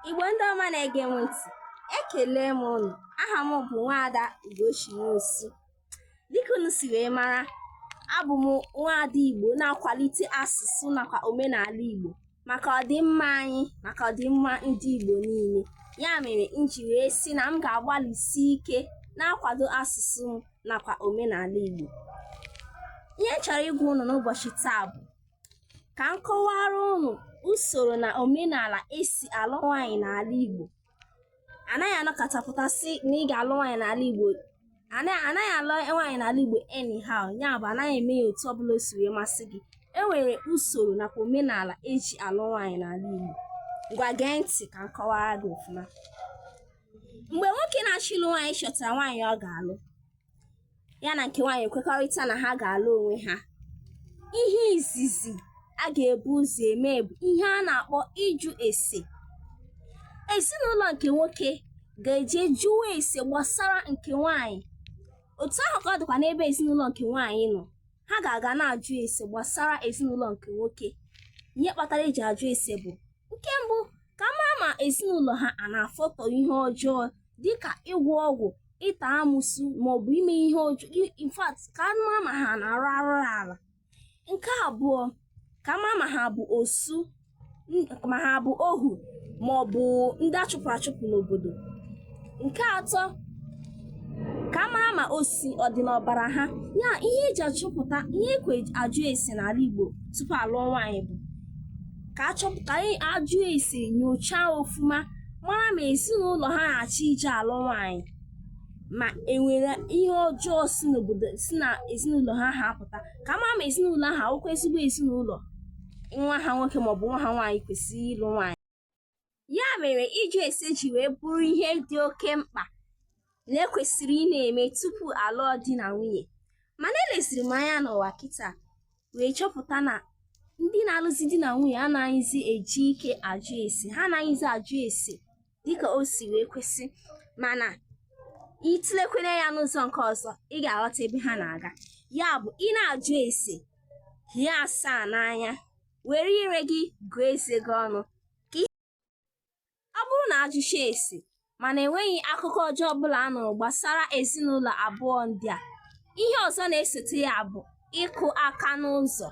Igbo ndị ọma na-ege m ntị ekele m ụnụ aha m bụ nwaada Ugochi Nwosu dịka unu si wee mara abụ m nwaada Igbo na-akwalite asụsụ nakwa omenala Igbo maka ọdịmma anyị maka ọdịmma ndị Igbo niile ya mere m ji wee sị na m ga-agbalịsi ike na-akwado asụsụ m nakwa omenala Igbo ihe m chọrọ ịgwa ụnụ n'ụbọchị taa bụ ka m kọwara ụnụ usoro na omenala esi alụ nwaanyị n'ala Igbo anaghị anọkata pụta sị na ị ga-alụ nwaanyị n'ala Igbo anaghị anaghị alụ nwaanyị n'ala Igbo anyhow ya bụ anaghị eme ya otu ọbụla o si wee masị gị e nwere usoro nakwa omenala eji alụ nwaanyị n'ala Igbo ngwa gee ntị ka m kọwara gị ọfụma mgbe nwoke na-achọ ịlụ nwaanyị chọtara nwaanyị ọ ga-alụ ya na nke nwaanyị ekwekọrịta na ha ga-alụ onwe ha ihe izizi a ga-ebu ụzọ eme bụ ihe a na-akpọ ịjụ ese ezinụlọ nke nwoke ga-eje jụwa ese gbasara nke nwaanyị otu ahụ ka ọ dịkwa n'ebe ezinụlọ nke nwaanyị nọ ha ga-aga na-ajụ ese gbasara ezinụlọ nke nwoke ihe kpatara eji ajụ ese bụ nke mbụ ka a mara ma ezinụlọ ha a na-afụta ihe ọjọọ dịka ịgwọ ọgwụ ịta amụsụ maọbụ ime ihe ọjọọ i- in fact ka a mara ma ha na-arụ arụrụala nke abụọ ka a mara ma ha bụ osu n- ma ha bụ ohu maọbụ ndị achụpụrụ achụpụ n'obodo nke atọ ka a mara ma osi ọ dị n'ọbara ha ya ihe eji achọpụta ihe ekwe ajụ ese n'ala igbo tupu alụọ nwaanyị bụ ka achọpụta anyị ajụ ese nyochaa ọfụma mara ma ezinụlọ ha na-achọ ije alụ nwaanyị ma enwere ihe ọjọọ si n'obodo si na ezinụlọ ha ha apụta ka a mara ma ezinụlọ ahụ awụkwa ezigbo ezinụlọ nwa ha nwoke maọbụ nwa ha nwaanyị kwesịrị ịlụ nwaanyị Ya mere ịjụ ese ji wee bụrụ ihe dị oke mkpa na ekwesịrị ị na-eme tupu alụọ di na nwunye. Mana eleziri m anya n'ụwa kịta wee chọpụta na ndị na-alụzi di na nwunye anaghịzi eji ike ajụ ese, ha anaghịzi ajụ ese dịka o si wee kwesị mana ị tụlekwanụ ya n'ụzọ nke ọzọ ị ga-aghọta ebe ha na-aga. Ya bụ ị na-ajụ ese, hie asaa n'anya. were ire gị gụọ eze gị ọnụ ka ihe ọ bụrụ na ajụchaa ese mana enweghị akụkọ ọjọọ ọbụla a nụrụ gbasara ezinụlọ abụọ ndị a ihe ọzọ na-esote ya bụ ịkụ aka n'ụzọ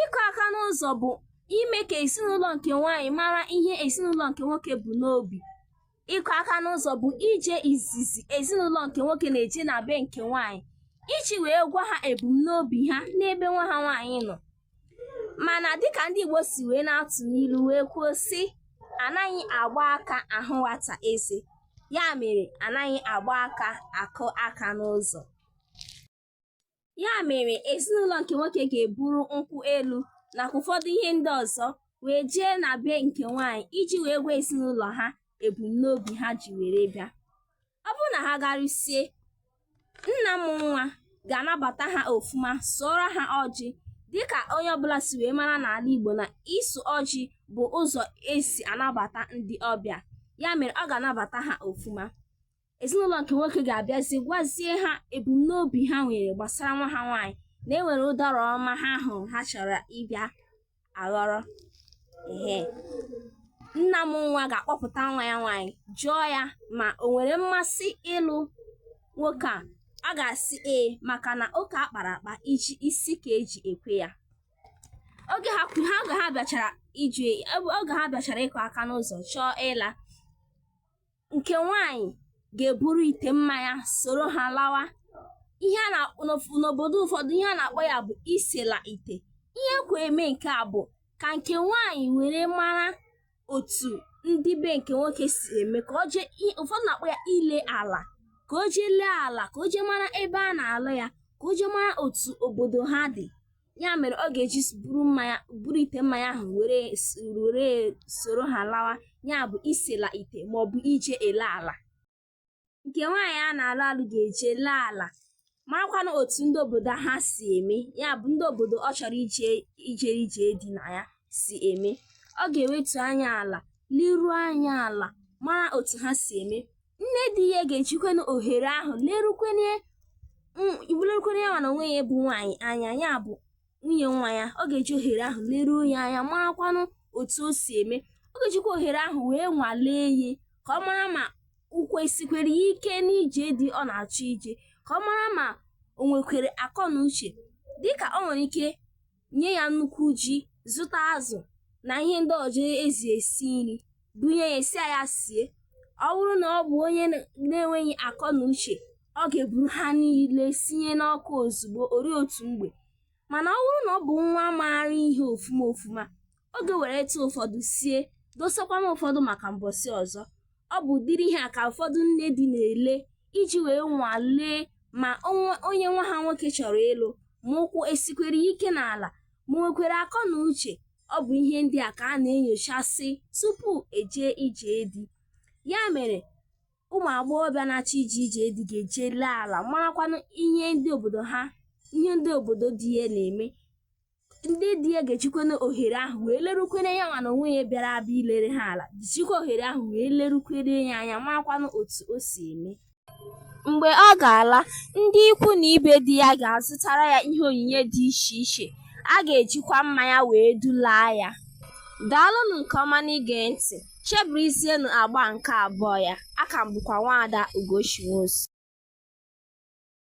ịkụ aka n'ụzọ bụ ime ka ezinụlọ nke nwaanyị mara ihe ezinụlọ nke nwoke bu n'obi ịkụ aka n'ụzọ bụ ije izizi ezinụlọ nke nwoke na-eje na be nke nwaanyị iji wee gwa ha ebumnobi ha n'ebe nwa ha nwaanyị nọ mana dịka ndị Igbo si wee na-atụ n'ilu wee kwuo sị anaghị agba aka ahụ nwata eze ya mere anaghị agba aka akụ aka n'ụzọ Ya mere, ezinụlọ nke nwoke ga-eburu nkwụ elu nakwa ụfọdụ ihe ndị ọzọ wee jee na be nke nwaanyị iji wee gwa ezinụlọ ha ebumnobi ha ji were bịa. Ọ bụrụ na ha garusie, nna mụ nwa ga-anabata ha ofuma, sụọrọ ha ọjị dịka onye ọbụla si wee mara n'ala Igbo na ịsụ ọjị bụ ụzọ e si anabata ndị ọbịa. Ya mere, ọ ga-anabata ha ofuma. ezinụlọ nke nwoke ga-abịazi gwazie ha ebumnobi ha nwere gbasara nwa ha nwaanyị na e nwere ụdara ọma ha hụrụ ha chọrọ ịbịa aghọrọ ehe nna mụ nwa ga-akpọpụta nwa ya nwaanyị jụọ ya ma o nwere mmasị ịlụ nwoke a a ga-asị ee maka na ụka a kpara akpa iji isi ka eji ekwe ya oge ha kwu- ha oge ha bịachara iju oge ha bịachara ịkụ aka n'ụzọ chọọ ịla nke nwaanyị ga-eburu ite mmanya soro ha lawa ihe a na-akpọ n'of- n'obodo ụfọdụ ihe a na-akpọ ya bụ isela ite ihe kwe eme nke a bụ ka nke nwaanyị were mara otu ndị be nke nwoke si eme ka o jee i- ụfọdụ na-akpọ ya ile ala ka o jee lee ala ka o jee mara ebe a na-alụ ya ka o jee mara otu obodo ha dị ya mere ọ ga-eji buru mmanya buru ite mmanya ahụ were s- were soro ha lawa ya bụ isela ite maọbụ ije ele ala nke nwaanyị a na-alụ alụ ga-eje lee ala marakwanụ otu ndị obodo ha si eme ya bụ ndị obodo ọ chọrọ ije ije ije di na ya si eme ọ ga-ewetu anya ala liruo anya ala mara otu ha si eme nne di ya ga-ejikwana ohere ahụ lerukwenye lerukwenye ya mana onwe ya bụ nwaanyị anya ya bụ nwunye nwa ya ọ ga-eji ohere ahụ leruo ya anya marakwanụ otu o si eme ọ ga-ejikwa ohere ahụ wee nwalee ya ka ọ mara ma ụkwụ esikwara ya ike n'ije di ọ na-achọ ije ka ọ mara ma o nwekwere akọ na uche dịka ọ nwere ike nye ya nnukwu ji zụta azụ na ihe ndị ọzọ eji esi nri bunye ya sị ya sie ọ bụrụ na ọ bụ onye na- na-enweghị akọ na uche ọ ga-eburu ha niile sinye n'ọkụ ozugbo ori otu mgbe mana ọ bụrụ na ọ bụ nwa maara ihe ofuma ofuma ọ ga-eweretụ ụfọdụ sie dosakwanụ ụfọdụ maka mbọsị ọzọ ọ bụ ụdịrị ihe a ka ụfọdụ nne di na-ele iji wee nwalee ma onwe- onye nwa ha nwoke chọrọ ịlụ ma ụkwụ esikwere ya ike n'ala ma o nwekwere akọ na uche ọ bụ ihe ndị a ka a na-enyochasị tupu e jee ije di ya mere ụmụ agbọghọbịa na-achọ ije ije di ga-eje lee ala marakwanụ ihe ndị obodo ha ihe ndị obodo di ya na-eme ndị di ya ga-ejikwanụ ohere ahụ wee lerukwere ya anya nwa na onwe ya bịara abịa ilere ha ala jichikwa ohere ahụ wee lerukwere ya anya makwanụ otu o si eme mgbe ọ ga-ala ndị ikwu na ibe di ya ga-azụtara ya ihe onyinye dị iche iche a ga-ejikwa mmanya wee dulaa ya daalụnụ nke ọma n'ige ntị chebirizienụ agba nke abụọ ya aka m bụkwa nwaada ugochi nwosu